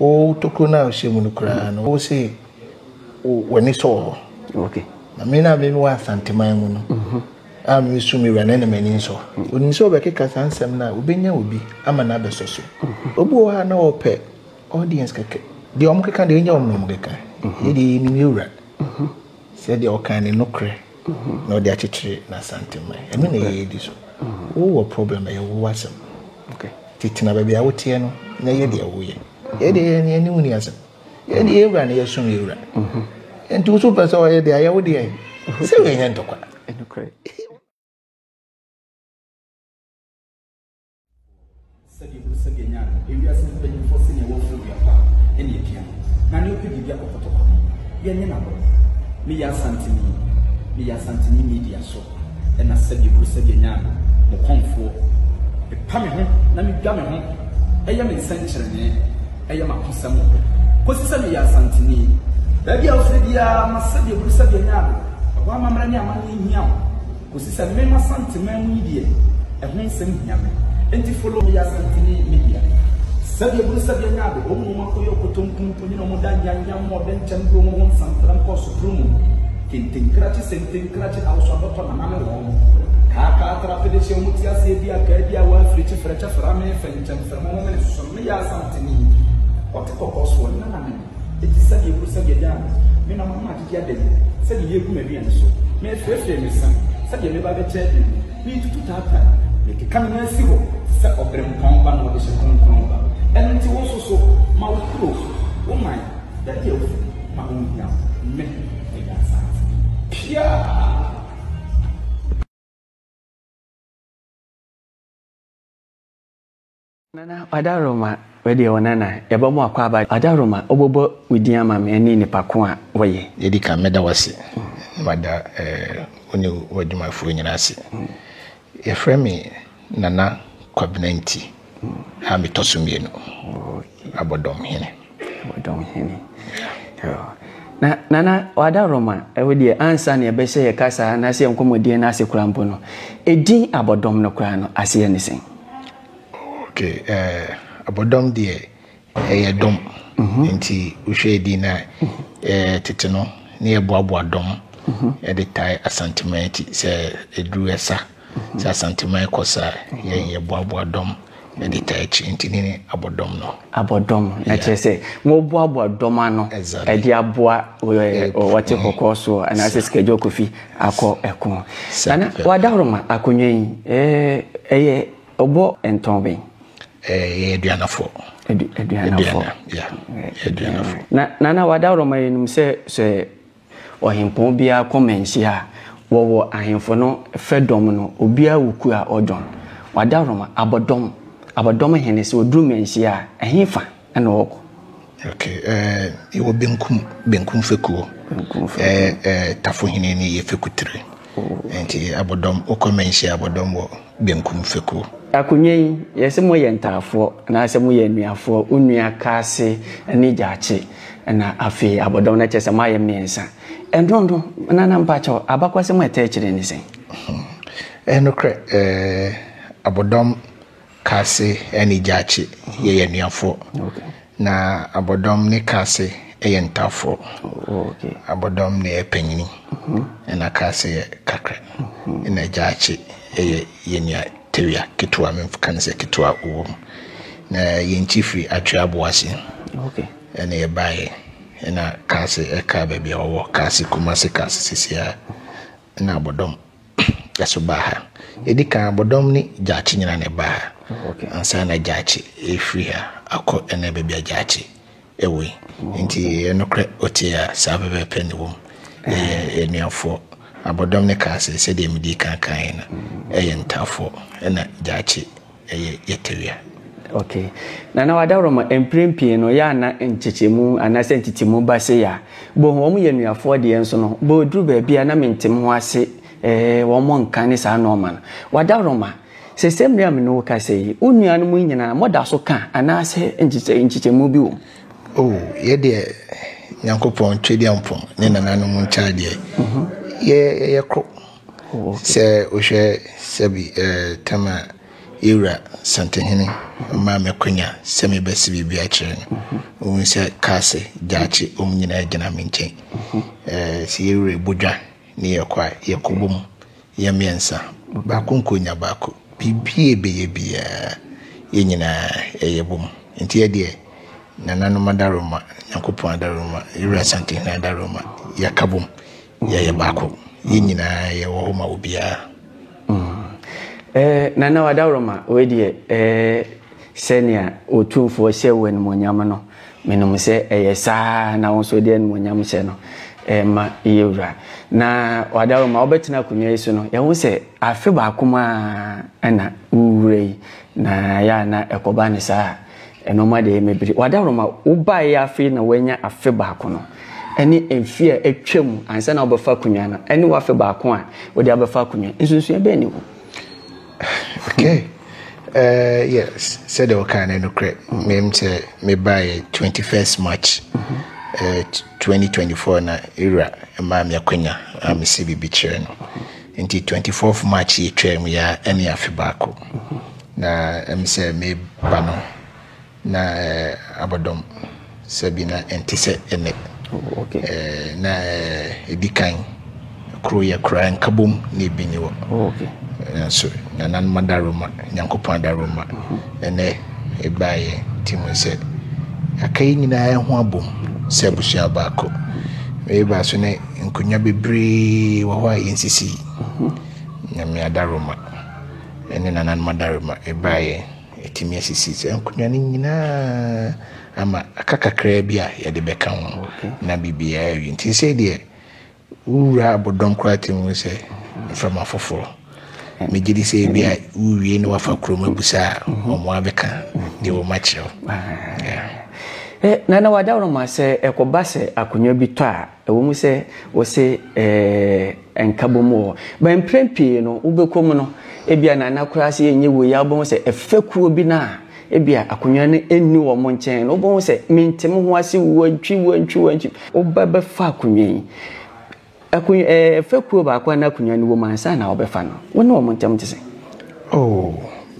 Wo tokuro no a wohyɛ mu no koraa no, wo se w'ani sɔ wɔ hɔ. Na me na me wɔ Asanteman mu no, mhm. a me su me wura na ɛna m'ani nsɔ. Onim sɛ ɔbɛkeka saa nsɛm no a, wobɛnya obi ama no abɛsɔ so. Mhm. Obi wɔ hɔ a na ɔpɛ audience kɛkɛ. Deɛ wɔn keka deɛ ɛnyɛ wɔn na wɔn keka. Yɛ deɛ yɛnim yɛ wura. Sɛ deɛ ɔkan ne nokorɛ. na ɔde akyekyere n'asantemma. Ɛno na ɛyɛ edi so. Wowɔ problem ɛyɛ wo asɛm. Titena baabi a woteɛ no na yɛ deɛ woyɛ. Yɛ deɛ yɛ ne mu ni asɛm. Yɛ deɛ yɛ wura na yɛ som yɛ wura. Nti wo so pɛ sɛ ɔyɛ deɛ ayɛ wo deɛ. Sɛ yɛ nyɛ ntɔkwa. sɛdeɛ ɛburu sɛdeɛ nya no ewiase mpanyinfoɔ sɛ neɛ wɔforo dua pa ɛne apia na ne wopɛ biribi akɔkɔtɔ kɔ no yɛnyɛ no agorɔ meyɛ asanteni meyɛ asanteni media so ɛna sɛdeɛ ɛburu sɛdeɛ nya no mo kɔmfoɔ ɛpa me ho na medwa me ho ɛyɛ me nsɛnkyerɛnee ɛyɛ m'akosɛm kɔsi sɛ meyɛ asanteni baabi a wofiri biara ma sɛdeɛ ɛburu sɛdeɛ nya no ɛhɔ amammerɛ ne amanneɛ hia wo Kosi sɛ me m'Asante man mu yi deɛ ɛho nsɛm hia me enti follow me yɛ Asanteni media sɛbi ebunu sɛbi anya ade wɔn mu akɔyɛ ɔkotonku mpo nyina wɔn da nyanya mu ɔdɛ nkyɛn bi wɔn ho nsantara nkɔ sopro mu kente nkrakye sente nkrakye ahosuadɔtɔ nana ne wɔn kaakaa trapede hyɛ wɔn ti aseɛ bi a kaa bi a wɔafirikyi frɛkyɛ frame fɛnkyɛn frɛmɔ wɔn mene soso me yɛ Asanteni ɔte kɔkɔɔ soɔ nana ne Enti sɛdeɛ ɛboro sɛdeɛ daa no, me na mama adidi ada mu, sɛdeɛ yɛgu m'aduane so, merefrɛfrɛ me nsa sɛdeɛ mɛba abɛkyɛ ade mu, meretutu taataa, mekeka me nan asi hɔ te sɛ ɔberempɔn ba na ɔde hyɛ kronkron ba. Ɛno nti wo nso so, ma wo kuro, wo man, dade awufo, ma wɔnhia wo, me, meyɛ asase. Pia! Nana Adaroma, wei deɛ Onana, yɛbɛbɔ akwaaba. Adaroma, wobɛbɔ wo din ama me ne nipa ko a woyɛ. Deɛ ɛdi kan, mɛda wo ase na mada wo ne w'adwumafoɔ nyinaa ase. Yɛfrɛ me Nana Kwabena Nti a metɔ so mmienu, Abɔdɔm Hene. Abɔdɔm Hene. Na Nana Adaroma, wo deɛ ansa na yɛbɛhyɛ yɛn kasa anaasɛ yɛn nkɔmmɔdie no ase koraa mpo no, edin Abɔdɔm no koraa no aseɛ ne sɛn? Ok abɔdɔm deɛ ɛyɛ dɔm nti wohwɛ ɛdin no a tete no na yɛboaboa dɔm ɛde tae asanteman akyi sɛ ɛduru ɛsa sɛ asanteman kɔ sa yɛn yɛboaboa dɔm ɛde tae akyi nti ne ne abɔdɔm no abɔdɔm ɛkyerɛ sɛ moboaboa dɔm ano ɛde aboa wɔte kɔkɔɔ soɔ anaasɛ sikadwa kofi akɔ ɛko. Nana, w'adaworo ma akonnwa yi ɛyɛ ɔbɔ ntɔn bɛn? Ɛyɛ aduanafo. Aduanafo. Aduanafo. Na Nana, w'adaworo ma yɛnim sɛ sɛ ɔhempɔn biara kɔ manhyia a, wɔwɔ ahemfo no fɛ dɔm no, obiara wɔ kuo a ɔdwɔn. W'adaworo ma abɔdɔm, abɔdɔm hene sɛ ɔduru manhyia a, ɛhefa? Ɛna ɔɔkɔ. Okay ɛɛ yɛwɔ benkum benkum fekuo ɛɛ ɛɛ tafohene ne yɛ fekutire nti abɔdɔm wokɔ mɛnhyia abɔdɔm wɔ benkum fekuo. Akonwa yi yɛse moyɛ ntaafoɔ anaasɛ moyɛ anuafoɔ onua kaase ne gyaakye ɛna afei abɔdɔm no kyɛsɛ moayɛ mmiɛnsa ɛnono nana mpakyɛw abakwasɛm a ɛtaa kyire ne sɛn. Ɛyɛ nokorɛ ɛɛ abɔdɔm Kase ne Gyakye yɛ anuafoɔ. Na Abɔdɔm ne Kase yɛ ntafoɔ. Abɔdɔm na ɛyɛ panyini ɛna Kase yɛ kakra. Ɛna Gyakye yɛ yɛn nua tewia ketewa menka no sɛ ketewa wɔ mu. Na yɛn kyi firi Atwe Aboase ɛna yɛbaeɛ. Ɛna Kase ɛka baabi a ɔwɔ, Kase Kumase, Kase seisei a. na abɔdɔm ɛso baa ha ɛdi kan abɔdɔm ne gyaakye nyina na ɛbaa ha ansa na gyaakye ɛfiri ha akɔ ɛna baabi a gyaakye ɛwɔ yi nti ɛyɛ nokorɛ ɔtie a saa pɛpɛpɛ ne wɔm ɛyɛ anuafoɔ abɔdɔm ne kaa sɛ sɛdeɛ medi kan kan no ɛyɛ ntaafoɔ ɛna gyaakye ɛyɛ yɛtewea. Ok. Nana Wadawurama, mprɛn pii no, yɛ a na nkyekyɛmu anaasɛ ntetemu ba sei a, bohu wɔn yɛ anuafoɔ deɛ nso no, bɔ ɛduru baabi a na mentem ho ase eh, wɔn nka ne saa nnoɔma no. Wadawurama, sɛsɛ mmerɛ a me ne wo kasa yi, wo nuanom yi nyinaa moda so ka anaasɛ nkyekyɛ nkyekyɛmu bi wom? Oh, yɛ deɛ Nyankopɔn Twedeampɔn ne nananom nkyɛadeɛ, yɛ yɛyɛ koro. Sɛ wohwɛ sɛbi ɛɛ tam a yɛwura Santehene maa me akwanya sɛ mebɛse biribi akyerɛ no, wohu sɛ Kaase, Gyaakye, wɔn nyinaa gyina me nkyɛn. Ɛɛ sɛ yɛwura Bodwa ne yɛkɔ a, yɛkɔbɔ mu, yɛ mmiɛnsa, baako nkɔnya baako. Biribi a yɛbɛyɛ biara, yɛn nyinaa yɛbɔ mu. Nti yɛdeɛ, Nananom adaworoma, Nyankopɔn adaworoma, Yɛwura Santehene adaworoma, yɛka bɔ mu. Yɛyɛ baako. Yɛn nyinaa yɛwɔ hɔ ma obiara. Mm. Nana Wadaworoma, wei deɛ sɛnea Otumfoɔ hyɛ wo animuonyam no, menim sɛ ɛyɛ saa na wo nso de animuonyam hyɛ no ma yɛwura. Na Wadaworoma, wobɛtena akonnwa yi so no, yɛho sɛ afe baako mu a na wowura yi, na yɛ a na ɛkɔba ne saa. Nnoɔma deɛ mebiri. Wadaworo ma wobaeɛ afei na woanya afe baako no ɛne mfeɛ a atwa mu ansa na wobɛfa akonnwa no ɛne w'afe baako a wode abɛfa akonnwa nsunsua bɛn ne wu? Okay. Uh, yes, said the kind of crack. Mem say me by 21st March mm-hmm. uh, 2024 na era ma me akwanya a me si bi bi kyerɛ no. Nti twenty fourth March yi twaam yi ara ne afe baako. Na ɛm sɛ meba no na abɔdɔm sɛbi na ɛnte sɛ ɛnɛ. Na ɛdi kan koro yɛ koraa nkabom na ebi ni hɔ. Nanso nananom adaworoma, Nyankopɔn adaworoma ɛnɛ ɛbaa yɛn ti mu sɛ aka yi nyinaa ho abom sɛ abusua baako. Meba so ne Nkonnwa bebree wɔ hɔ a yɛnsisi. Nyame adaroma ne nananom adaroma baeɛ ɛtumi asisi saa nkonnwa no nyinaa ama aka kakraa bi a yɛde bɛka ho na biribiara awie. Nti sei deɛ wowura abodɔm koraa tumi hu sɛ mframa foforɔ. Megye di sɛ ebi a wowie na wafa kurom abusa a wɔn abɛka deɛ wɔn akyerɛ wo. Nana wadaroma sɛ ɛkɔba sɛ akonnwa bi tɔ a Ɛwom sɛ wɔse ɛɛ nkabom wɔ hɔ, but mprɛn pii no wobɛkɔ mu no, ebia na na koraa sɛ ɛnyɛ wei ara wobɛhu sɛ fekuo bi no a ebia akonnwa no nni wɔn nkyɛn no, wobɛhu sɛ mente me ho ase, wantwi, wantwi, wantwi. Woba bɛfa akonnwa yi, akonnwa ɛɛ fekuo baako a na akonnwa no wɔ mu ansa na wɔbɛfa no, wo ne wɔn ntam te sɛn? Oh,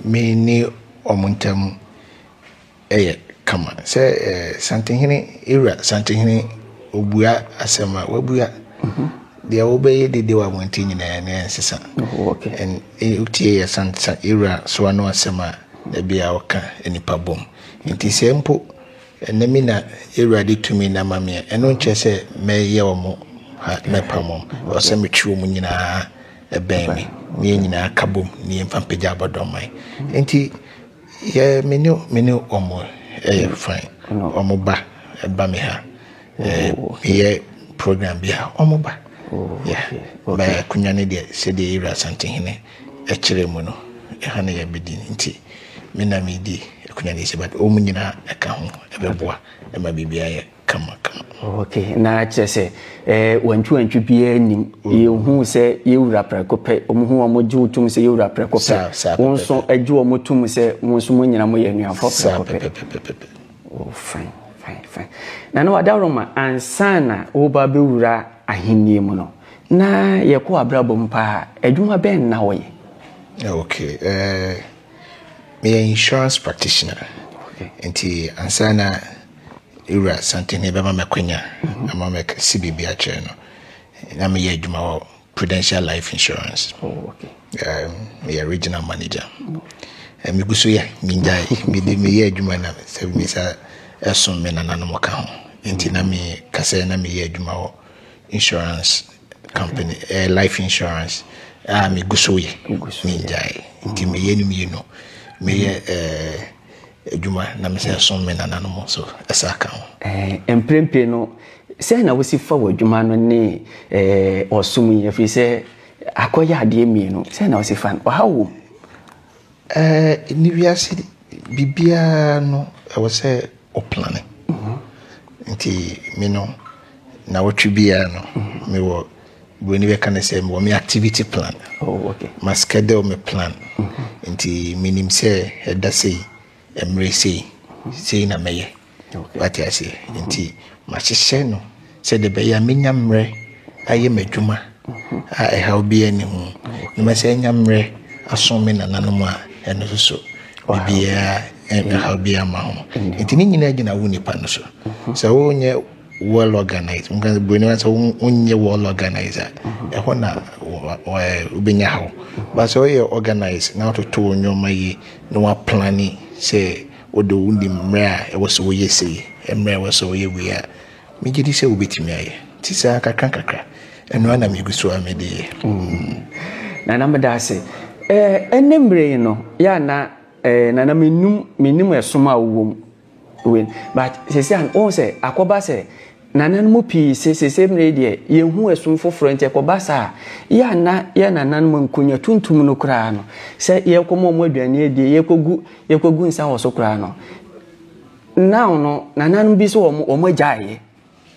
me ne wɔn ntam. yɛ kama sɛ ɛɛ Santehene Ewura Santehene obua asɛm a wabua deɛ wobɛyɛ dede wɔ abɔnten nyinaa ne ɛnsesa ɛn wotie yɛ Santesa Ewura so ano asɛm a da bi a ɔka nipa bom nti sɛ mpo ɛnɛ mi na Ewura de tumi na ma meɛ ɛno nkyerɛ sɛ mɛyɛ wɔn ha mɛpa wɔn ɔsɛ metwe wɔn nyinaa ɛbɛn me ne yɛn nyinaa ka bom ne yɛmfa mpagya abɔdɔmman nti Yeah me ne me ne wɔn ɛyɛ fine wɔn ba ɛba me ha ɛɛ oh, meyɛ program bi a wɔn ba oh, yeah bɛ akonnwa ne deɛ sɛdeɛ ewura asantehene ɛkyerɛ mu no ɛha na yɛbɛdi nti me na medi akonnwa ne sɛ but wɔn nyinaa ɛka ho ɛbɛboa ɛma biribi ayɛ. kamakama. Ok, na kyerɛ sɛ eh, wantwiwantwi biara nim. Mm. Yɛhu sɛ yɛwura prɛko pɛ, wɔhu wɔn gye wo tom sɛ yɛwura prɛko pɛ. Wɔn nso gye wɔn tom sɛ wɔn nso mo nyina moyɛ anuafoɔ prɛko pɛ. Oh, fine, fine, fine. Na na wadaworoma ansa na woba bɛwura ahennie mu no, na yɛkɔ abrabɔ mu paa, adwuma bɛn na wɔyɛ? Eh, ok, eh, meyɛ insurance practitioner. Okay. Nti ansa na Wura Santini bɛma me akwanya ama mɛkɛse biribi akyerɛ no. Na meyɛ adwuma wɔ Prudential Life Insurance. Oh, okay. Um, meyɛ regional manager. Eh, megu so yɛ, mengyae. Mede meyɛ adwuma na sɛ me sa ɛsom me nananom ka ho. Nti na me kasɛ na meyɛ adwuma wɔ insurance company, eh, life insurance. Ah, megu so yɛ, mengyae. Nti meyɛ no mmienu. Meyɛ, eh, adwuma na mese ɛsom me nananom nso ɛsa ka ho. Mprempren no, sɛn na wusi fa w'adwuma no ne ɔsom yi, efisɛ akɔyɛ adeɛ mmienu? Sɛn na wusi fa no? Ɔhaw wom? Nnɛ wiase biribiara no ɛwɔ sɛ woplane. Nti me no, nnawɔtwe biara no mewɔ Buroni bɛka no sɛ mewɔ me activity plan. Oh, okay. Ma schedule me plan. Mm-hmm. Nti menim sɛ ɛda sei, mmerɛ sei, sei na mɛyɛ. Wate aseɛ. Mm-hmm. Nti mahyehyɛ no sɛ de bɛyɛ a menya mmerɛ ayɛ m'adwuma mm-hmm. a ɛhaw biara nni ho. Na masɛ anya mmerɛ aso me nananom a ɛno nso so biribiara ɛhaw biara ma ho. Nti ne nyinaa gyina wo nipa no so. Sɛ wonyɛ well organized nka sɛ buroni wa sɛ wonyɛ well organized a ɛhɔ na wobɛnya haw ba sɛ woyɛ organized na wototo wo nneɛma yi na woaplane sɛ wode wo nim mmerɛ a ɛwɔ sɛ woyɛ sei mmerɛ a ɛwɔ sɛ woyɛ wei a megye di sɛ wobɛtumi ayɛ nti saa kakra kakra ɛno ana megu so a mede yɛ mm. nana meda ase ɛne mmerɛ yi no yɛ ana nana menim ɛsom a wowɔ mu wei but sese an ohun sɛ akɔba sɛ nanan mu pii se sese mmerɛ yi deɛ yɛn hu ɛsom foforɔ nti ɛkɔba saa yɛ a na yɛ nanan mu nkonya tuntum no koraa no sɛ yɛkɔ ma wɔn aduane adie yɛkɔ gu yɛkɔ gu nsa wɔ so koraa no now no nanan bi so wɔn wɔn agyaeɛ.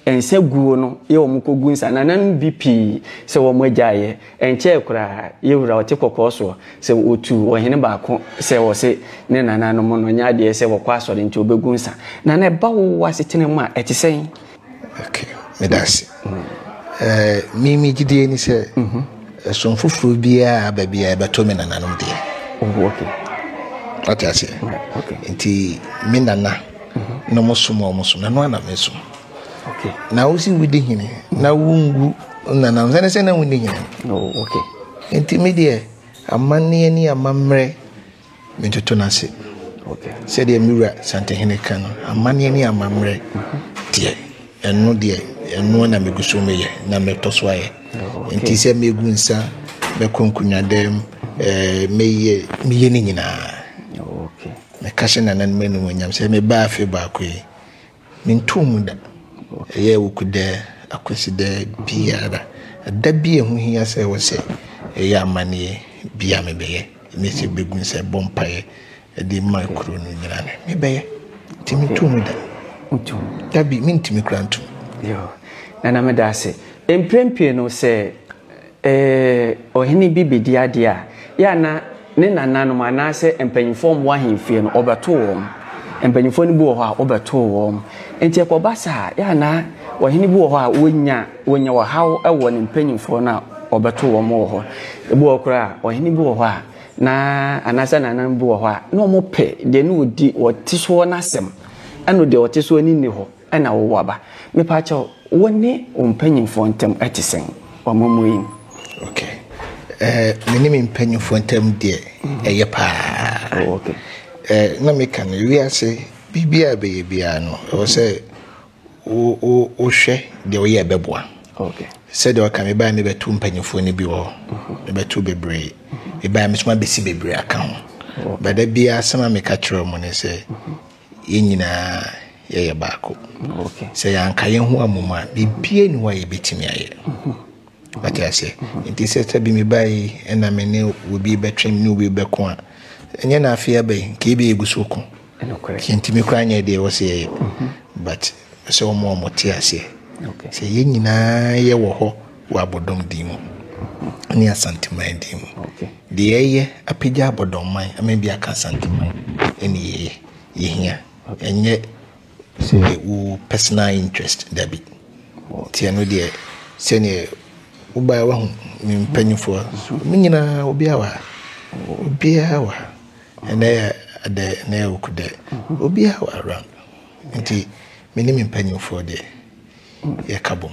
nsa guo no yɛ wɔn kɔgu nsa. Nananom bi pii sɛ wɔn agyae yɛ. Ɛnkyɛɛ koraa, yɛ wura ɔte kɔkɔɔ soɔ sɛ ɔtu ɔhene baako sɛ ɔse ne nananom no nyɛ adeɛ sɛ wɔkɔ asɔre nti ɔbɛgu nsa. Nana ɛba wo asetena mu a ɛte sɛn? Ok, meda ase. Eh, me me gyidie ni sɛ ɛsom foforɔ biara aba biara ɛbɛtɔ me nananom deɛ. Oh, ok. Ɔte aseɛ? Nti me nana. na mo som wɔn som ɛno ana me som na wosi wodi hene na wongu nanam sɛne sɛ na wonni hene oh, nti me deɛ amanneɛ ne amammerɛ metoto no ase sɛdeɛ me wura santehene ka no amanneɛ ne amammerɛ deɛ ɛno deɛ ɛno na megu so meyɛ na mɛtɔ so ayɛ oh, nti sɛ megu nsa mɛkɔ nkonnwadam eh, meyɛ meyɛ ne nyinaa oh, Meka hyɛ nananom animuonyam sɛ mebaa afe baako yi, mentoo mu da. Ɛyɛ Awukudɛ, Akwasidɛ, biara, da bi a ɛho hia sɛ ɛwɔ sɛ ɛyɛ amanneɛ bi a mebɛyɛ, ne sɛ bɛgu nsa ɛbɔ mpaeɛ de ma kuro no nyinaa no, mebɛyɛ. Nti mentoo mu da. Da bi, mentumi koraa nto mu. Nana, meda ase. Mprempie no sɛ Ee, ɔhene bi bedi ade a, yɛ a na ne nananom anaasɛ mpanyimfo a wɔwɔ ahemfie no, wɔbɛtow wɔn. Mpanyimfo no bi wɔ hɔ a, wɔbɛtow wɔn. Enti ɛkɔba saa a, yɛ a na ɔhene bi wɔ hɔ a, onya onya ɔhaw wɔ ne mpanyimfo no a wɔbɛtow wɔn wɔ hɔ. Ebi wɔ hɔ koraa a, ɔhene bi wɔ hɔ a, na anaasɛ nananom bi wɔ hɔ a, na wɔpɛ deɛ na ɔdi ɔte soɔ no asɛm, ɛnna deɛ ɔte soɔ no nni hɔ. na wowo aba. Mepaakyɛw, wo ne wo mpanyimfoɔ ntam ɛte sɛn wɔ amammuo yi mu? Ok. Eh, me ne me mpanyimfoɔ ntam deɛ, ɛyɛ paa. Oh, ok. Eh, na meka no, wiase, biribi a ɛbɛyɛ biara no, ɛwɔ sɛ wo, wo, wohwɛ deɛ woyɛ ɛbɛboa. Ok. Sɛdeɛ ɔka, mebaeɛ mebɛto mpanyimfoɔ no bi wɔ hɔ. Mhm. Mebɛto bebree. Mhm. Mebaeɛ me nso mabɛsi bebree aka ho. Ba da biara asɛm a meka kyerɛ wɔn ne sɛ, mhm. Yɛn nyinaa yɛyɛ baako. Sɛ yɛanka yɛn ho amom a, biribiara ni hɔ a yɛbɛtumi ayɛ. Wate aseɛ? Nti sɛ sɛ bi meba yi ɛna me ne obi bɛtwe ne obi bɛko a, ɛnyɛ na afei aba yi, nka ebi yɛgu so ko. Yɛntumi koraa nyɛ deɛ ɛwɔ sɛ yɛyɛ. But Ɔpɛ sɛ ɔma wɔn te aseɛ sɛ yɛn nyinaa yɛ wɔ hɔ wɔ abɔdɔm din mu ne Asanteman din mu. Deɛ yɛyɛ apagya abɔdɔmman ama bi aka Asanteman ɛne yɛyɛ yɛhia ɛnyɛ sɛ wo personal interest dabi. Nti ɛno deɛ sɛdeɛ wobaeɛ wahu me mpanimfoɔ mo nyinaa obiara wɔ ha obiara wɔ ha ɛnɛ yɛ dɛ ɛnɛ yɛ ɔkudɛ obiara wɔ around. Nti me ne me mpanyimfoɔ deɛ, yɛka bom,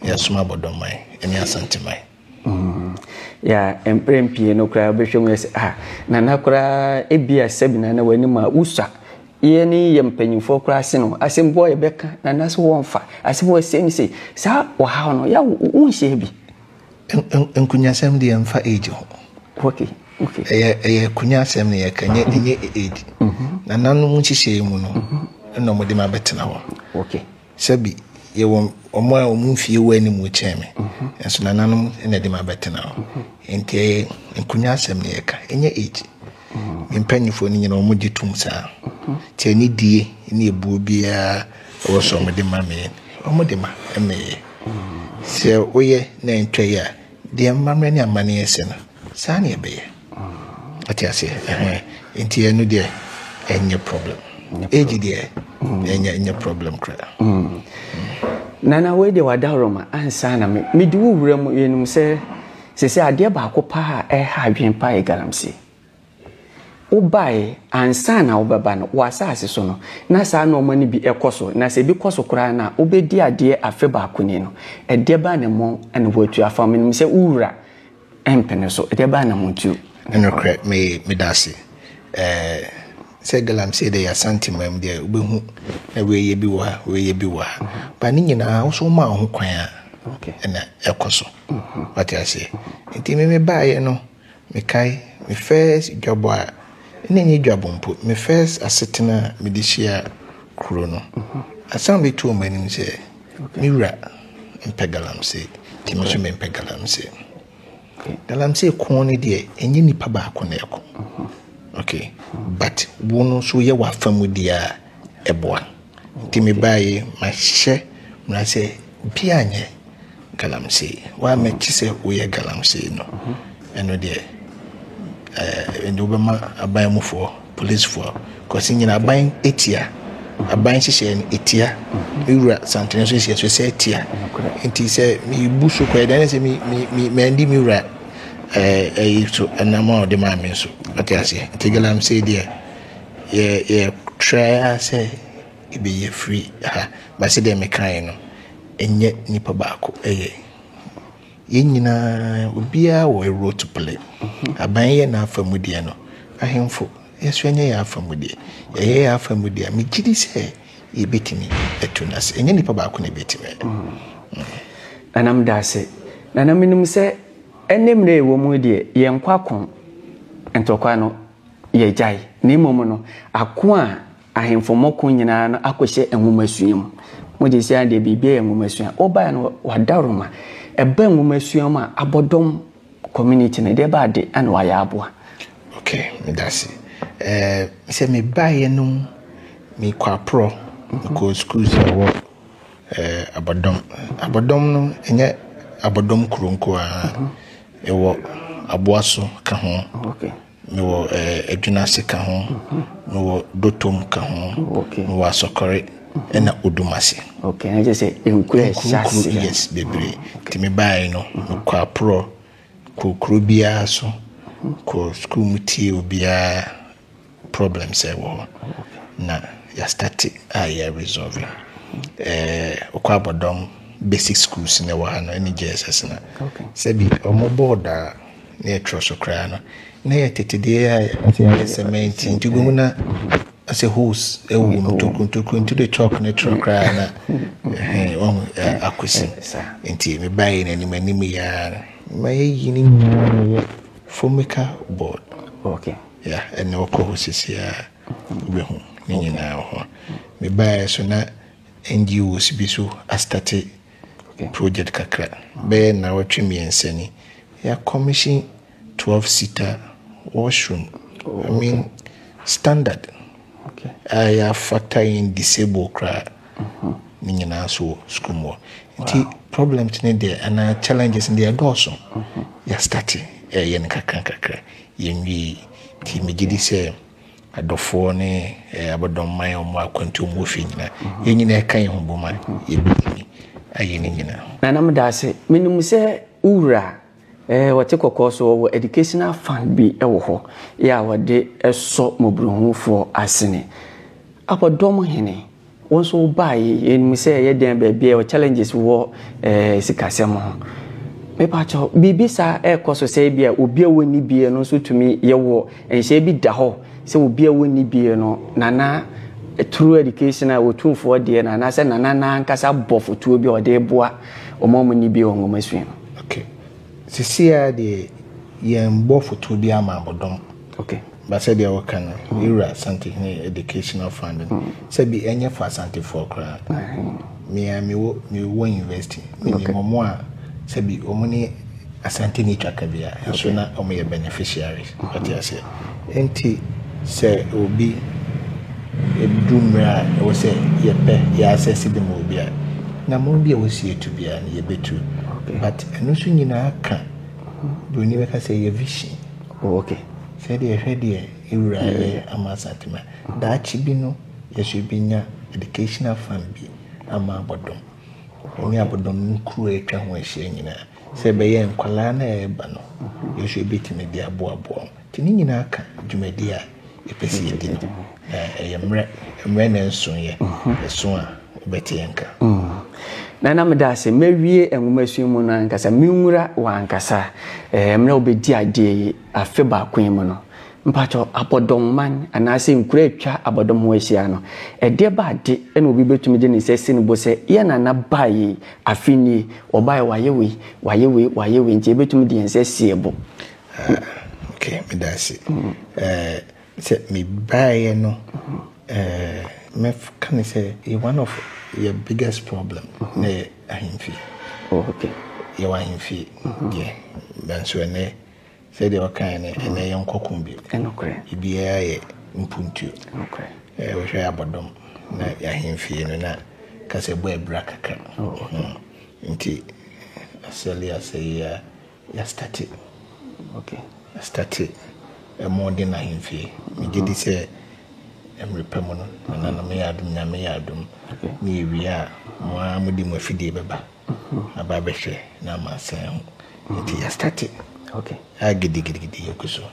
yɛasoma abɔdɔmman ne asanteman. Mm. Ya mprɛn pii no koraa wobɛhwɛ mu yɛ sɛ ah nana koraa ebia sɛbi nana w'anim a wosua yɛ ne yɛ mpanyimfoɔ koraa ase no asɛm bi a yɛbɛka nana so wɔmfa asɛm wɔ sei ne sei saa ɔhaw no ya wonhyia bi Nkunyasɛm deɛ mfa age ho. Okay, okay. Ɛyɛ ɛyɛ kunyasɛm na yɛka nyɛ mhm. nyɛ age. Mhm. Na nanom nhyehyɛe mu no mhm. ɛna wɔde ma bɛtena hɔ. Okay. Sɛbi yɛwɔ wɔn a wɔn mfie wɔ anim kyɛn me. Nso na nanom na ɛde ma bɛtena hɔ. Nti ɛyɛ nkunyasɛm na yɛka ɛnyɛ age. Mpanyinfoɔ no nyina wɔn gye tom saa. Nti ɛne die ne ebuo biara. Wɔ sɛ ɔmo de ma me yɛ? Ɔmo de ma me yɛ. Sɛ woyɛ na ɛntwa yi a, deɛ mmammerɛ ne amanneɛ sɛ no, saa na ɛbɛyɛ. Ate aseɛ? Ɛhɛn. Nti ɛno deɛ, ɛnyɛ problem. Age deɛ, ɛnyɛ ɛnyɛ problem koraa. Nana, wei deɛ w'adaworoma ansa na me medi wo wura mu. Yɛnim sɛ seesei adeɛ baako paa a ɛreha adwene paa yɛ galamsey. Wobae, ansa na wobɛba no, wɔ asase so no, na saa nnoɔma no bi kɔ so, na sɛ ebi kɔ so koraa no a, wobɛdi adeɛ afe baako ni no. Ɛdeɛ bɛn na mo na wɔatu afa mo? Menim sɛ wo Wura mpene so. Ɛdeɛ bɛn na moatu afa mo? Ne nokorɛ, me, meda ase, eh, sɛ Galamsey deɛ yɛ Asante man mu deɛ, wobɛhu na wei yɛ bi wɔ ha, wei yɛ bi wɔ ha. But ne nyinaa, wo nso woma wo ho kwan a, ɛna ɛkɔ so. Wate aseɛ? Nti me, mebaeɛ no, Mekae me first dwabɔ a, na ɛnyɛ dwabɔ mpo, me first asetena a mede hyia kuro no, asɛm a bɛtu wɔ m'anim sɛ, me wura mpɛ galamsey, nti me nso mempɛ galamsey. Galamsey ko no deɛ, ɛnyɛ nipa baako na ɛko. Okay, but wo no nso woyɛ w'afa mu deɛ a, ɛboa. Nti me baa yi mahyɛ mmara sɛ obiara nyɛ galamsey waa mɛkye sɛ woyɛ galamsey no ɛno deɛ ɛɛ ɛde wobɛma aban mufoɔ policefoɔ kɔsi nyina aban etia aban hyehyɛ no etia ewura santene nso hyehyɛ so sɛ etia nti sɛ mebu so kɔ ɛdan sɛ me me me mɛndi me wura ɛɛ ɛyi so ɛnam a ɔde maa me nso ɔte aseɛ nti galamsey deɛ. Yɛ yɛ tra ara sɛ yɛbɛyi afiri ha ba sɛdeɛ mekaeɛ no ɛnyɛ nipa baako ɛyɛ yɛn nyinaa obiara wɔ role to play aban yɛ n'afa mu deɛ no ahenfo yɛso yɛnyɛ yɛn afa mu deɛ yɛyɛ yɛn afa mu deɛ a megye di sɛ yɛbɛtumi atu no ase ɛnyɛ nipa baako na ɛbɛtumi ayɛ. Nana meda ase nana menim sɛ ɛne mmerɛ ɛwɔ mu deɛ yɛnkɔ akɔn ntɔkwa no Yɛagyae, na mmom no, ako a ahemfo mmɔ ko nyinaa no akɔhyɛ nwomasua mu. Mogye sɛ adeɛ biribiara yɛ nwomasua. Wobaeɛ no, wɔadawroma. Ɛba nwomasua mu a, abɔdɔm community no, deɛ ɛba ade na wɔayɛ aboa. Ok, meda ase. Ɛɛ, sɛ mebaeɛ no, mekɔ aporɔ, mekɔɔ sukuu sɛ ɛwɔ ɛɛ abɔdɔm. Abɔdɔm no, ɛnyɛ abɔdɔm kuro nko ara, ɛwɔ aboa so ka ho. Ok. Mewɔ Adwinase ka ho, mewɔ Dotom ka ho, mewɔ Asɔkɔre ɛna Odumase. Okay, na kyerɛ sɛ nkuro a ɛhyɛ aseɛ. Yes, bebree. Nti me baeɛ no, mekɔ aporɔ, kɔ kuro biara so, kɔ sukuu mu tie obiara problem sɛ wɔ hɔ. Na yɛastate a yɛ resolve. Wokɔ abɔdɔm basic schools na ɛwɔ ha no ɛne JSS no. Sɛbi wɔn board a na ɛtrɔ so koraa no, na ɛyɛ tete deɛ a ɛyɛ sɛmɛnti nti wobɛhu na asɛ hose ɛwɔ mu ntokuro ntokuro nti de chalk ne trɔ koraa na ɔhu akɔsi nti mebaeɛ no anim anim yɛa ma yɛyi no nyinaa na ɛyɛ fomica board okay yeah ɛna ɔkɔ hɔ sisi a wobɛhu ne nyinaa ho mebaeɛ so na NGOs bi so astate Project kakra, bɛyɛ nnawɔtwe mmiɛnsa ni, yɛa commission twelve seater wash room, I mean standard a yɛafata yɛn disabled koraa ne nyinaa nso wɔ sukuu mu hɔ. Nti problems no deɛ anaa challenges no deɛ ɛdɔɔso. Yɛastarte ɛreyɛ no kakra kakra, yɛnwie yi. Nti megye di sɛ Adɔfoɔ ne abɔdɔmman a wɔn akwantuo mu wɔ fie nyinaa, yɛn nyinaa yɛka yɛn ho bom a, yɛbɛtumi ayɛ ne nyinaa. Nana meda ase. Menim sɛ wo wura eh, ɔte kɔkɔɔ so, ɔwɔ educational fund bi wɔ hɔ eh, a ɔde sɔ mmɔborɔhunufoɔ asene. Abɔdɔm hene. Wo nso wo baa yi yɛnim sɛ ɛyɛ dɛn baabi a challenges wɔ eh, sikasɛm ho mepakyɛ biribi saa ɛrekɔ so sɛ bi a obi a wɔnni bie no nso tumi yɛwɔ nhyɛ bi da hɔ sɛ obi a wɔnni bie no nana through education a wɔtumfoɔ deɛ no anaasɛ nana no ankasa bɔ fotuo bi a ɔde boa ɔma ɔmo nni bie wɔ nwoma sua no okay. sisi a deɛ yɛn bɔ fotuo bi ama abɔdɔm Ok but sɛdeɛ wo ka no me wura Asantehene educational funding sɛ bi ɛnyɛ for Asantefoɔ koraa me a me wo me wo university me ni mɔmɔ a sɛ bi ɔmo ne Asante ni twaka bi a ɛso na ɔmo yɛ beneficiaries ɔte aseɛ enti sɛ obi ɛdu mmerɛ a ɛwɔ sɛ yɛpɛ yɛ asɛsi bi ma obi a na mo bi a wɔsi etu bi a yɛbɛtu but ɛno nso nyinaa ka broni bɛka sɛ yɛ vision Oh ok, sɛdeɛ hwɛ deɛ ewura yɛ ama Satima. Daakye bi no yɛso yɛbɛnya educational fund bi ama abɔdom. Ɛne abɔdom no kuro a atwa ho ahyia nyinaa. Sɛ ɛbɛyɛ nkwadaa no a ɛreba no yɛso yɛbɛtumi de aboaboa wɔn. Nti ne nyinaa ka dwumadie a. yɛpɛ sɛ yɛdi no na ɛyɛ mmerɛ mmerɛ na ɛnsoeɛ ɛso a wobɛte yɛn nka na na meda ase mawie nwomasua mu no ankasa menwura wɔ ankasa mmerɛ wobɛdi adeɛ yi afe baako yi mu no mpakyɛ abɔdɔmman anaasɛ nkura atwa abɔdɔm ho ahyia no ɛdeɛ ba ade na obi bɛtumi de ne sɛ si ne bo sɛ yɛ nana baa yi afe nie ɔbaeɛ wayɛ wei wayɛ wei wayɛ wei nti ɛbɛtumi de yɛn sɛ sie bo ok medase sɛ mebaeɛ no mɛka ne sɛ one of yɛ biggest problem ne yɛ ahemfie yɛwɔ ahemfie deɛ nanso ɛnnɛ sɛdeɛ wɔkaeɛ no ɛnnɛ yɛ nkɔko bio bibiaa yɛ mpuntuo wohwɛ abɔdɔm na yɛ ahemfie no na kasɛ bɔ abira kakra nti asɛle asɛyea Yɛastate, ok, yɛastate Ɛmo Den Ahemfie. Megye di sɛ mmere pa mu no, nananom yɛ adom, Nyame yɛ adom, ne yɛwie a, mo ara mode mo afidie bɛba aba abɛhwɛ na ama asɛn ho. Nti yɛastate, ok, a gidigidigidi yɛgu so.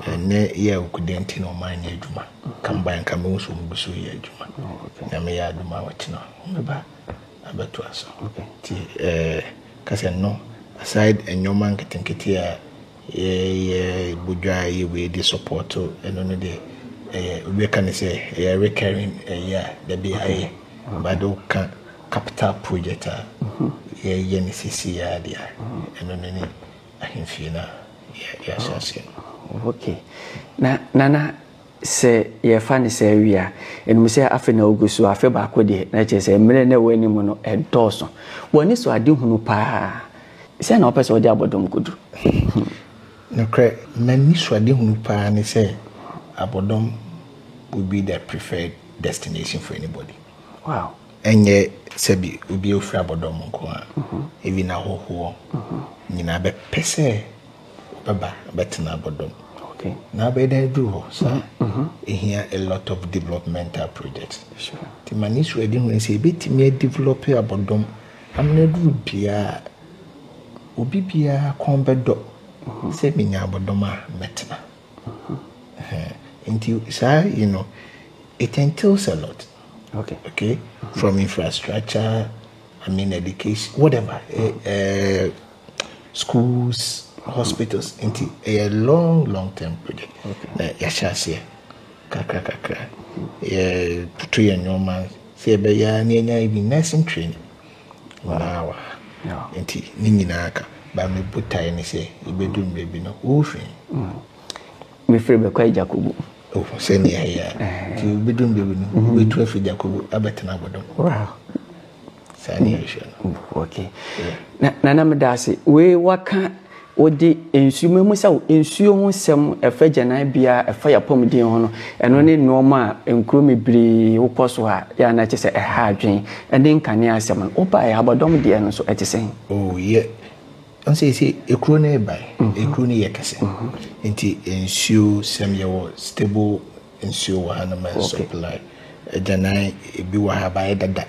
Ɛnnɛ yɛ a awukudee nti na wɔn anyɛ adwuma. Kambae nka mehu sɛ wɔgu so reyɛ adwuma. Nyame yɛ adom a wɔkyena wɔbɛba abɛtoa so. Nti eh, Kasa no aside nnoɔma nketenkete a yɛyɛ bɔ dwa a ɛyɛ wei de support ɛno no deɛ ɛyɛ obi bɛka no sɛ ɛyɛ recurring ɛyɛ a dabi ayɛ but de woka capital project a yɛyɛ no sisi a deɛ a ɛno no ne ahemfie no a yɛahyɛ aseɛ no. Okay. Na nana Sɛ yɛfa no saa wie a, ɛnum sɛ afe na ogu so, afe baako deɛ, na ɛkyerɛ sɛ mmerɛ na ɛwɔ anim no ɛdɔɔso. Wɔ anisoadehunu pa ara, sɛn na wopɛ sɛ wode abɔ dɔm kɔdu? Nokorɛ, m'anisoadehunu pa ara ne sɛ abɔdɔm will be the preferred destination for anybody. Wow! Ɛnyɛ sɛbi obi a ɔfiri abɔdɔm nko ara, even ahɔhoɔ nyinaa bɛpɛ sɛ bɛba bɛtena abɔdɔm okay. na abɛyɛ dɛ aduru hɔ saa ɛhia mm-hmm. a lot of developmental project nti ma ne suadi hu sɛ ɛbɛtumi adevelop abɔdɔm amena aduru biaa obi biaa kɔn bɛdɔ mm-hmm. sɛ menya abɔdɔm a mɛtena mm-hmm. nti saa you know it entails a lot okay, okay? from infrastructure I mean education whatever uh, uh, schools, hospitals nti ɛyɛ long long term project na yɛahyɛ aseɛ kakra kakra yɛtoto yɛn nneɛma sɛ yɛbɛyɛ ara na yɛnya even nursing training wɔn ara wɔ ha nti ne nyinaa ka ba me botae ne sɛ yɛbɛdu mmerɛ bi no wofi mm. mefiri bɛkɔ agyakobu sɛnea ɛyɛ a nti wobɛdu mmerɛ bi no wobɛtu afiri agyakobu abɛtena abɔdɔm Saa ne yɛhwɛ no. Oh, okay. Na nana meda ase. Wei waka wode nsuo mamu sɛ nsuo ho sɛm ɛfa gyananbea ɛfa yapɔmuden ho no ɛno ne nneɛma a nkuro bebree wokɔ so a yɛ ana kyɛ sɛ ɛha adwene ɛne nkanea asɛm no wobaeɛ abɔdɔm deɛ no so ɛte sɛn? Oh, yɛ ɔnsɛ sɛ ekuro no ɛbae ekuro no yɛ kɛse nti nsuo sɛm yɛwɔ stable Nsuo wɔ ha no ma ɛsupply. Agyanan ebi wɔ ha ba ayɛ dada.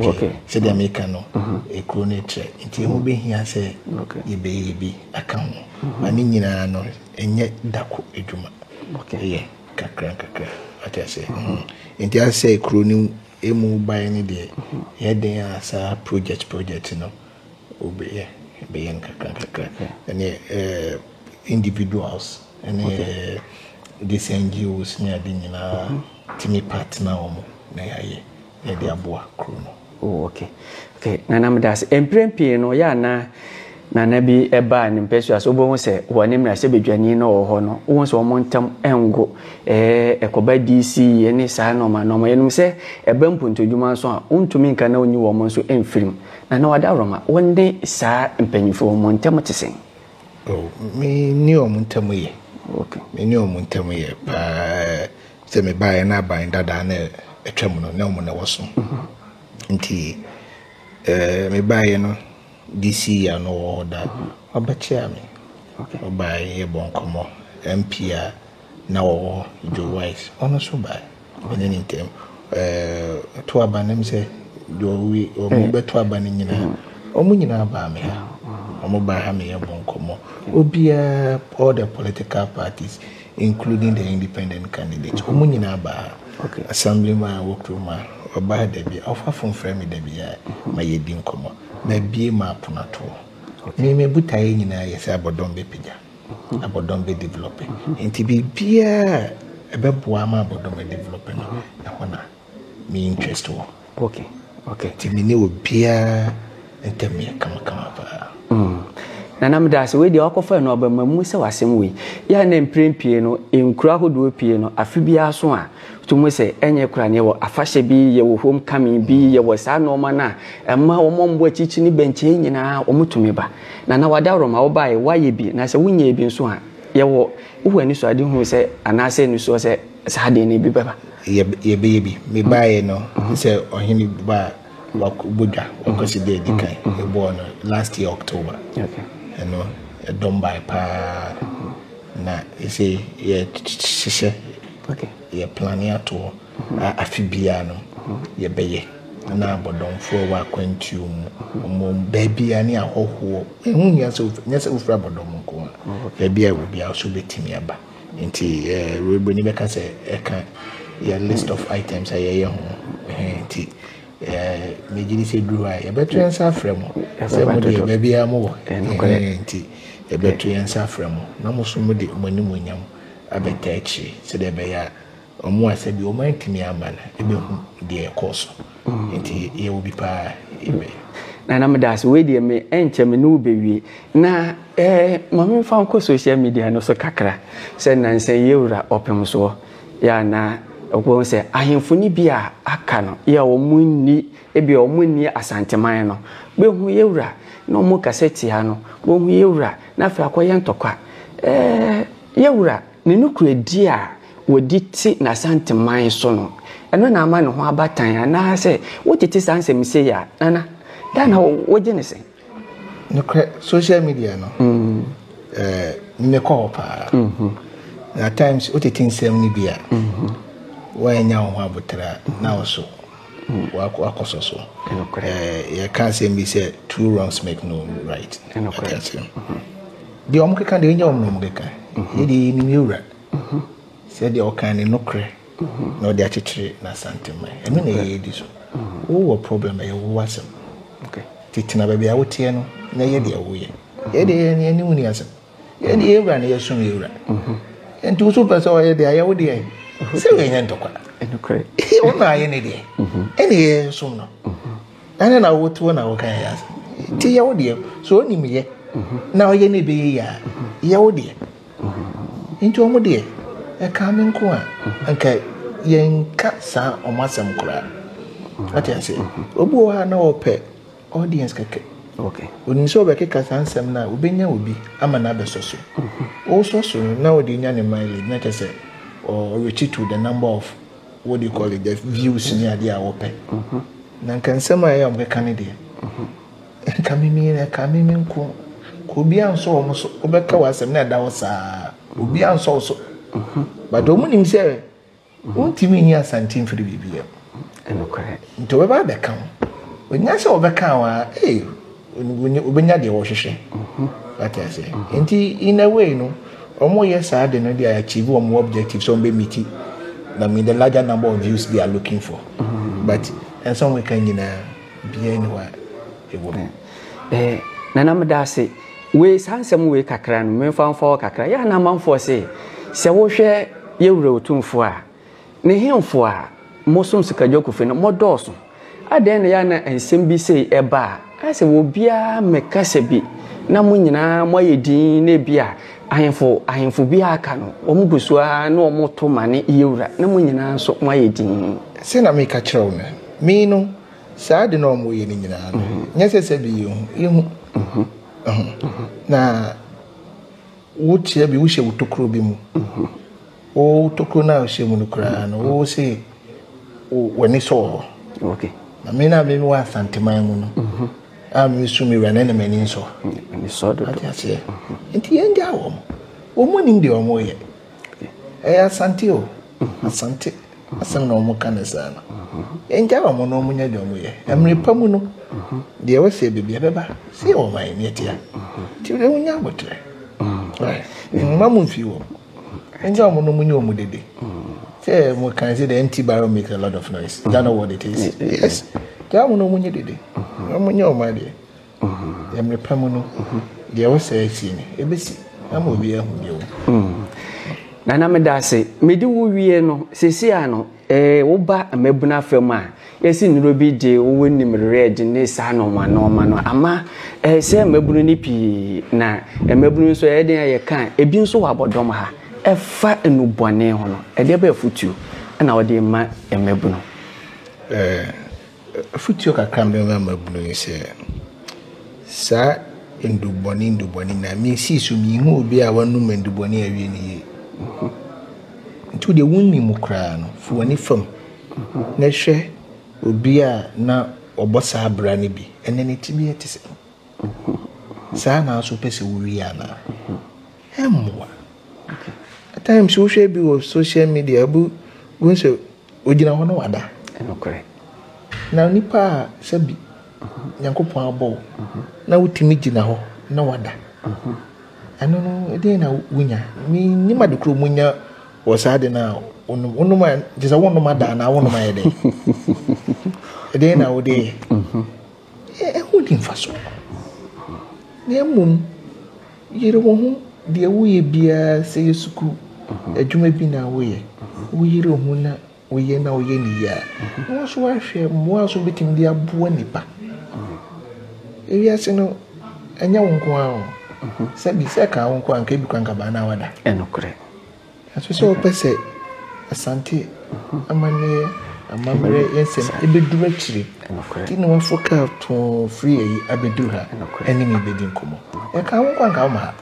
Okay. Sɛdeɛ meka no, ekuro no kyerɛ. Nti ɛho bɛhia sɛ yɛbɛyɛ bi aka ho. Ma ne nyinaa no, ɛnyɛ dako adwuma. Ɛyɛ kakra nkakra. Ate aseɛ? Nti asɛ ekuro no mu baeɛ no deɛ, ɛyɛ den a saa project project no. Wobɛyɛ bɛyɛ nkakrankakra ɛne individuals ɛne these NGOs ne ade nyinaa tumi partner wɔn na yɛayɛ na yɛde aboa kuro no. Oh, okay. Okay, nana meda ase. Mprɛn pii no yɛ ana nana bi ɛbaa ne mpɛsua so wobɛhu sɛ wɔ ne mmarahyɛbadwani no wɔ hɔ no wohu sɛ wɔn ntam ɛngo ɛɛ ɛkɔba DC ne saa nɔɔma nɔɔma yɛnum sɛ ɛba mpontodwuma nso a wontumi nka na wonyi wɔn nso mfirim Na na wɔadaworoma wɔn ne saa mpanyimfo wɔn ntam te sɛn? Oh, me ne wɔn ntam ye. Okay. Me ne wɔn ntam ye paa. Sɛ mebaeɛ na aban dadaa na atwam no, na wɔn na wɔso. Mhm. Nti, eh, mebaeɛ no, DC a na ɔwɔ hɔ da, mhm. ɔbɛkyea me. Okay. Ɔbaeɛ yɛ bɔ nkɔmmɔ, MP a na ɔwɔ hɔ, Joe Wise, ɔno nso bae, me ne ne ntam ɛɛ to aba nam sɛ Joe wi wɔn bɛto aba no nyinaa, wɔn nyinaa baa me ha, wɔn baa ha meyɛ bɔ nkɔmmɔ, obiara all the political parties including the independent candidates, wɔn nyinaa baa ha. Okay. Assemblyman a wɔ kurom a ɔba ha da bi a ɔfa fon frɛ me da bi a ma yɛdi nkɔmmɔ. Mabie m'apono ato hɔ. Me me botaeɛ nyinaa yɛ sɛ abɔdɔm bɛpagya. abɔdɔm bɛ develɔpe. Nti biribiara a ɛbɛboa ama abɔdɔm adevelɔpe no, ɛhɔ na me interest wɔ. Okay, okay. Nti me ne obiara ntɛm yɛ kamakama paa. Mm. Nana meda ase wei deɛ wakɔfa no aba ma mu sɛ wasɛm wei yɛ a na mprɛn pie no nkuro ahodoɔ pie no afe biara so a tumi sɛ ɛnyɛ kora ne yɛwɔ afahyɛ bi yɛwɔ home coming bi yɛwɔ saa nneɛma no a ɛma wɔn a wɔn bɔ akyirikyiri ne bɛnkyɛn nyinaa wɔn tumi ba. Nana Wadaworo ma wobaeɛ, woayɛ bi, na sɛ wonyɛɛ bi nso a, yɛwɔ, wowɔ anisoadehunu sɛ, anaasɛ anisoɔ sɛ, saa adeɛ no bi bɛba? Yɛb, yɛbɛyɛ bi. Mebaeɛ no, sɛ ɔhene ba a, wabɔ dwa, wakɔsi da a ɛdi kan, yɛbɔɔ no last year October. Okay. Ɛno, ɛdɔm baeɛ paa, na ɛsei yɛhyehyɛ, Okay. yɛ plane ato hɔ. a afe biara no yɛbɛyɛ na abɔdɔmfoɔ a ɛwɔ akwantuo mu ɔmo baabiara ne ahɔhoɔ ɛho nyɛ sɛ nyɛ sɛ wofiri abɔdɔm nko a baabiara wɔ biara so bɛtumi aba nti ɛwurabɛni bɛka sɛ ɛka yɛ list of items a yɛyɛ ho nti megye di sɛ duru hɔ a yɛbɛto yɛn nsa afrɛ mo sɛ mo deɛ baabiara mo wɔ nti yɛbɛto yɛn nsa afrɛ mo na mo so mo de mo anim onyam abɛta akyire sɛdeɛ ɛbɛyɛ a Wɔn a sɛ bi wɔn antumi amma no ɛbɛhu deɛ ɛkɔɔ so nti yɛwɔ bi paa amen. Nana meda ase wei deɛ me ɛnkyɛ me ne wo bɛwie na eh, ma me mfa nkɔ social media no so kakra sɛ nansa yi awura ɔpemsoɔ yɛ a na wɔn sɛ ahemfo no bi a aka no yɛ a wɔn nni ebi a wɔn nni asanteman no bɛhu yɛ awura na wɔn kasa tia no wɔhu yɛ awura na afei akɔyɛ ntɔkwa eh, yɛ awura. Ne nokorɛdie a wɔdi te n'Asanteman so no, ɛno na ama ne ho aba tan anaa? Sɛ wotete saa nsɛm sei a, Nana, dɛn na wogye no sɛ? Nokorɛ, social media no, ɛɛ, mekɔ hɔ pa ara. Na at times, wotete nsɛm no bi a, woannya wo ho aboterɛ a, na wo so wakɔsɔ so. Ɛɛ, yɛka asɛm bi sɛ, two wrongs make no right. Ɛte aseɛ. Deɛ wɔn keka deɛ ɛnyɛ wɔn na wɔn keka yɛ deɛ yɛnim yɛ wura sɛ deɛ ɔkan ne nokorɛ na ɔde akyekyere n'asanteman ɛno na ɛyɛ di so wowɔ problem ɛyɛ wo asɛm tetena baabi a woteɛ no na ɛyɛ deɛ woyɛ yɛ deɛ yɛ ne ɛne wo ni asɛm yɛ deɛ yɛ wura na yɛsom yɛ wura nti wo so pɛ sɛ ɔyɛ deɛ ayɛ wo deɛ sɛ yɛnyɛ ntɔkwa wo na ayɛ ne deɛ ɛne yɛ som no Ɛne na wo tuo na wo kan yɛ ase. Ti yɛ wo deɛ. So o nim yɛ. Na ɔyɛ ne bɛyɛ yɛ a. Yɛ wo deɛ. Nti ɔmo deɛ. Ɛka me nko a. Nka yɛn nka saa ɔmo asɛm koraa. Ɔte ase. Obi wɔ hɔ a na ɔpɛ audience kɛkɛ. Okay. Onim sɛ ɔbɛkeka saa nsɛm no a obɛnya obi ama no abɛsɔ so. Ɔsɔ so no na ɔde nya ne mileage na kyɛ sɛ ɔretittle the number of what do you call it the views ni adeɛ a wɔpɛ na nka nsɛm a ɛyɛ a wɔbɛka ne deɛ nka mimi na ɛka mimi nko obi ansɔ wɔn so wobɛka wɔn asɛm na ɛda hɔ saa obi ansɔ wɔn so but wɔn nim sɛ wontumi nyi asante mfiri biribi yɛ nti wɔbɛba abɛka ho onya sɛ wɔbɛka wɔn a ee. Wobenya deɛ wɔhwehwɛ, wate aseɛ? Nti in a way no, wɔyɛ saa de no de a achieve wɔn objective sɛ wɔbɛ meet na mean the larger number of views they are looking for, mm-hmm. but ɛnsa wɔn ka nyinaa biara ni hɔ a ɛwɔ mu. Eh, nana meda ase wei saa nsɛm wei kakra no memfa mfa hɔ kakra yɛ anamanfoɔ se sɛ wohwɛ yɛwura otumfoɔ a Ne hemfo a mosom sikadwakufi no, modɔɔso. Adɛn na ɛyɛ a na nsɛm bi sei ɛba a, ayɛ sɛ obiara mmɛ kasa bi, na mo nyinaa mo ayɛ dinn na ebia ahemfo ahemfo bi a aka no, wɔn gu so ara na wɔn to ma ne yewura, na mo nyinaa nso mo ayɛ dinn. Sɛ na meka kyerɛ wo no, me no, saa ade no a wɔn yɛ no nyinaa no, nyɛ sɛ sɛbe yɛ hu, yɛ hu ho, na. Wokyea bi, wohyɛ wo tokuro bi mu. Wo tokuro no a wohyɛ mu no koraa no, wo se w'ani sɔ wɔ hɔ. Na me na me wɔ Asanteman mu no, mhm. a me su me wura ne ne m'ani nsɔ. Ani sɔ dodo. Ate aseɛ. Mhm. Nti yɛn gya wɔn. Wɔn mu nim deɛ wɔn yɛ. Ɛyɛ Asante o. Asante asɛm na wɔn ka ne saa no. Yɛn gya wɔn na wɔn nyɛ deɛ wɔn yɛ. Ɛmere pa mu no, deɛ ɛwɔ sɛ ɛbɛbi ɛbɛba. Sɛ yɛ wɔn ayɛ neɛ tia. Ti deɛ wɔn nyɛ abotire. Mma mu nfi wɔn. Yɛn gya wɔn na wɔn nyɛ wɔn dede. Sɛ wɔn kan sɛ the empty barrel make a lot of noise. Ghana word it is. Yes. Gya wɔn na wɔn nyɛ dede. Wɔn nyɛ wɔn adeɛ. Yɛ mmere pa mu no, deɛ ɛwɔ sɛ ɛsi no, ɛbɛsi ama obi ahu deɛ ɔwɔ mu. Nana meda ase. Mede wo wie no, sɛsi a no, eh, woba mmabunu afa mu a, yɛsi nnuro bi de wo wɔ nim red ne saa nɔɔma nɔɔma no, ama eh, sɛ mmabunu no pii, na mmabunu nso ɛyɛ den a yɛka a, ebi nso wɔ abɔdɔm ha, ɛfa nnubɔne ho no, ɛdeɛ bɛ afutuo na wode ma mmabunu? Eh, Afotuo kakra a mɛma mmabunu ne sɛ, saa nnubɔne nnubɔne nyinaa, mesii so menhuu obi a wanom nnubɔne awie no yie. Nti wo deɛ wonni mu koraa no, fi w'ani fam na hwɛ obi a na ɔbɔ saa bra no bi, ɛnɛ ne tebea te sɛn? Saa na nso wopɛ sɛ wowie anaa? Ɛmmoa. At times wohwɛ bi wɔ social media, wohu sɛ Ogyina hɔ na wada. Nokorɛ. Na onipa a sɛbi Nyankopɔn abɔ wo na wotumi gyina hɔ na wada, ɛno no ɛdeɛn na wonya? Mennim ade korɔ monya wɔ saa ade no a wonom. Wonom a, gye sɛ wonom ada anaa wonom ayɛ dɛn? Ɛdeɛn na wode yɛ? Ɛho ni mfasoɔ. Na mmom Yere wo ho, deɛ woyɛ biara sɛ yɛ sukuu adwuma bi na woyɛ, woyere wo ho na woyɛ na woyɛ no yie a, na wo nso woahwɛ mmoa a so wobɛtumi de aboa nnipa. Ewiase no, ɛnyɛ wo nko ara o. Sɛbi, sɛ ɛkaa wo nko a, anka ebi koraa anka baa na woada. Ɛnokorɛ. Nanso sɛ wɔpɛ sɛ Asante amanneɛ amammerɛ nsɛm bɛduru akyiri nti na wɔaforo kaa too firi ayi abɛduru ha ɛne me bɛdi nkɔmmɔ. Ɛka wo nko anka woma ha.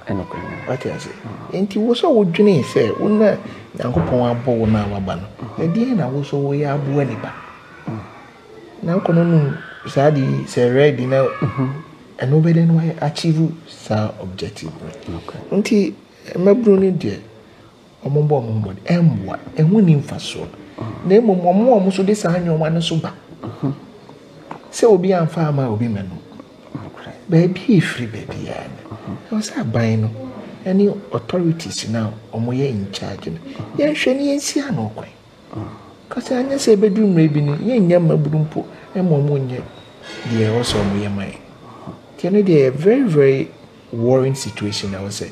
Wate ase? Enti wo sɛ wodwene sɛ wo na Nyankopɔn abɔ wo no a waba no, ɛdeɛn na wo so woyɛ aboa nipa? Na wokɔ no nom saa de yi sɛ red na ɛno bɛdɛ no achieve saa objective no. Nti Mmabunu no deɛ, wɔbɔ wɔn ho mmɔden, ɛmmoa, ɛho nni mfasoɔ. Na mmom wɔn a wɔn nso de saa nneɛma no nso ba sɛ obi amfa ama obi mɛ no, baabi a ɛfiri baabiara no, ɛwɔ sɛ aban no ne authorities no a wɔyɛ in charge no, yɛnhwɛ na yɛnsi ano kwan. Ɔka sɛ, Anyɛ sɛ ɛbɛduru mmerɛ bi no, yɛnnya mmabunu mpo mma wɔnyɛ deɛ ɛwɔ sɛ wɔyɛ ma yɛn. Nti ɛno deɛ ɛyɛ very very worrying situation a ɛwɔ sɛ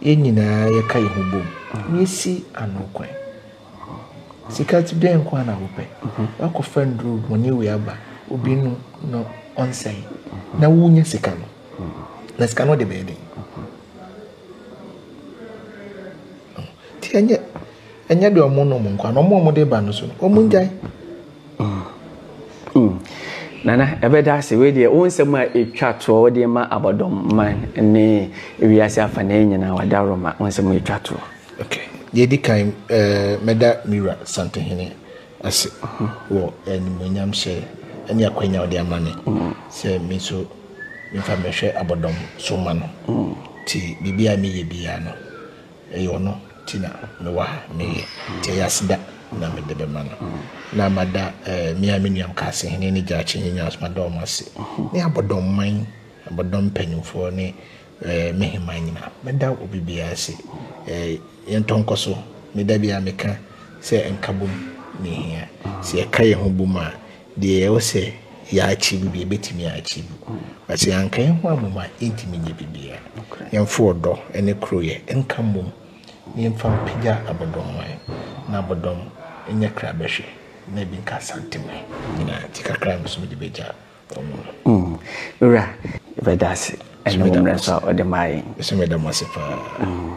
yɛn nyinaa yɛka yɛn ho bom na yɛsi ano kwan. Sika ti dɛn nko ara na wopɛ? Woakɔfa nnuro bɔne wei aba obi no na ɔnsɛe na wonya sika no, na sika no wode bɛyɛ dɛn? Nti ɛnyɛ Ɛnyɛ deɛ ɔmo nom nkwa na ɔmo ɔmo de ba no so no ɔmo ngyae. Mm. Mm. Nana ɛbɛda ase wei deɛ wo nsɛm a ɛtwa toɔ wode ma abɔdɔm man ne wiase afa na nyinaa wada roma wo nsɛm ɛtwa toɔ. Okay. Deɛ di kan ɛɛ eh, mɛda Mira Santehene ase mm-hmm. wɔ animonyam hyɛ ɛne akwanya ɔde ama me mm-hmm. sɛ me nso mefa mɛhwɛ abɔdɔm so ma no mm-hmm. ti biribi a meyɛ biara no Ɛyɛ ɔno nti na mewɔ ha, meyɛ, nti ɛyɛ aseda na mede bɛma no. Na mada eh, me a me nuam Kaase hene ne Gyakye hene nyinaa so, mada wɔn ase, ne abɔdɔmman, abɔdɔm mpanimfoɔ ne eh, me heman nyinaa. Mɛda obi biara ase. Eh, yɛntɔ nkɔ so. Meda biara meka sɛ nkabom ne hia. Sɛ yɛka yɛn ho bom a, Deɛ ɛwɔ sɛ yɛakyim deɛ yɛbɛtumi akyim, na sɛ yɛanka yɛn ho ammom a, yɛntumi nyɛ biribiara. Yɛmfa ɔdɔ ne koroyɛ nka mmom na yɛmfa mpagya abɔdɔmman, na abɔdɔm nyɛ kra bɛhwe, na ebi nka asanteman nyinaa. Nti kakra no so mede bɛgya wɔn mu no. Mm, me wura, yɛbɛda ase ɛne wo mmerɛ nso a ɔde maa yɛn. Nso meda mo ase paa. Mm.